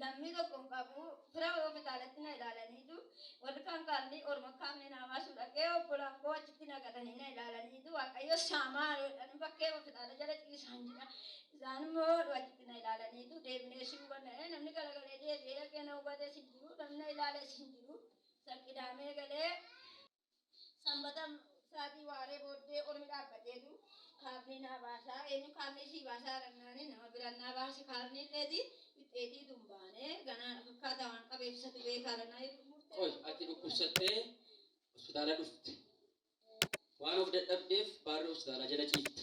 Lammii tokko hin qabu. Fira koo bitaalatti na ilaalaniitu. Warri kaan kaallii orma kaan minaa baasuu dhaqee obbolaan koo achitti na galanii na ilaalaniitu. Waaqayyo saamaa jedhanii bakkee bitaala jala ciisaan jira. Isaan immoo achitti na ilaalaniitu deebinee si hubanna. Namni galagalee deebi'ee dhaqee na hubatees hin jiru. Namni na ilaalees hin jiru. Isa qidaamee galee Sanbata sa'aatii waaree booddee ormi dhaabbateetu kaarnii naa baasaa eenyu kaarnii sii baasaa dhannaanii nama biraan naa baase kaarnii dheeti dhipheetii tun baanee ganaa na fakkaataa waan qabeef isatu beekaa dhannaa jedhu murtee Qoy tokko ati tokko dhukkubsattee hospitaala dhufte. Waan of dadhabdeef baarri hospitaalaa jala ciifta.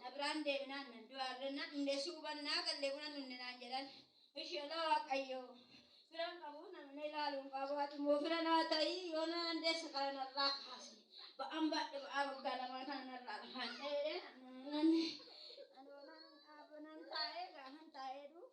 na biraan deebinaan nan du'aa irra na dhumne suuban naa galle buna dhumne naan jedhan isheelaa waaqayyo firan qabu namni ilaaluun qabu ati immoo fira naa ta'ii yoo na dandeesse kana narraa kaasi ba'an baadhe ba'aa waggaa lamaa kana narraa dhufaan ta'ee nan taa'ee gaafan taa'ee dhuuf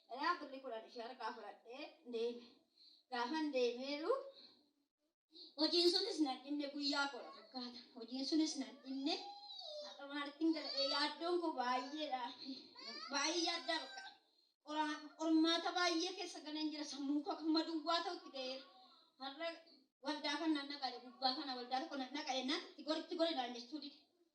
Dhayaa birri kudhan ishee harkaa fudhadhee deeme. Gaafan deemeeru hojiin sunis nan dhibne guyyaa koodha fakkaata. Hojiin sunis nan dhibne haqa maalittiin galadhee yaaddoon koo baay'eedha. Baay'ee yaaddaa bakka. Qormaata baay'ee keessa galeen jira sammuu koo akkuma duwwaa ta'utti ga'eera. Har'a waldaa kan nan dhaqaadhe gubbaa kana waldaa tokko nan dhaqaadhe nan itti gori itti gori naan jechuu dide.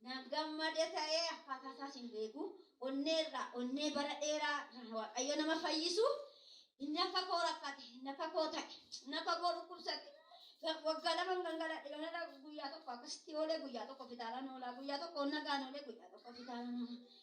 Nan gammade ta'ee akkaataa isaas hin beeku. Onnee irraa onnee bara dheeraa irraa Waaqayyo nama fayyisu. Inni akka koo rakkate, inni akka koo ta'e, inni akka koo dhukkubsate. Waggaa lama hin gangaladhe ganala guyyaa tokko akkasitti oolee guyyaa tokko fitaalaan oolaa guyyaa tokko nagaan oolee guyyaa tokko fitaalaan oolaa.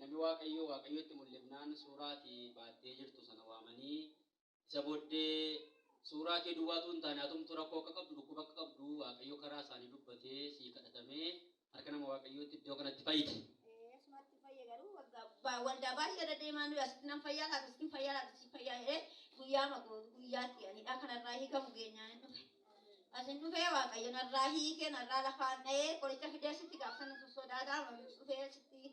Namni Waaqayyoo Waaqayyotti mul'ifnaan suuraa ati baattee jirtu sana waamanii isa booddee suuraa kee duwwaa utuu hin taane atumtu rakkoo akka qabdu dhukkuba akka qabdu Waaqayyo karaa isaanii dubbatee sii kadhatamee harka nama waaqayyootti iddoo kanatti fayyite. Asumatti fayya garuu waldaa baay'ee deddeemaa nuyi asitti nan fayyaa laata asitti fayyaa laata asitti fayyaa jedhee guyyaa maqoo guyyaatti anidhaa kanarraa hiikamu geenyaa hin dhufe. Asin dhufee waaqayyo narraa hiikee narraa lafaan dha'ee qoricha fidee sitti gaafsan sodaataa dhufee sitti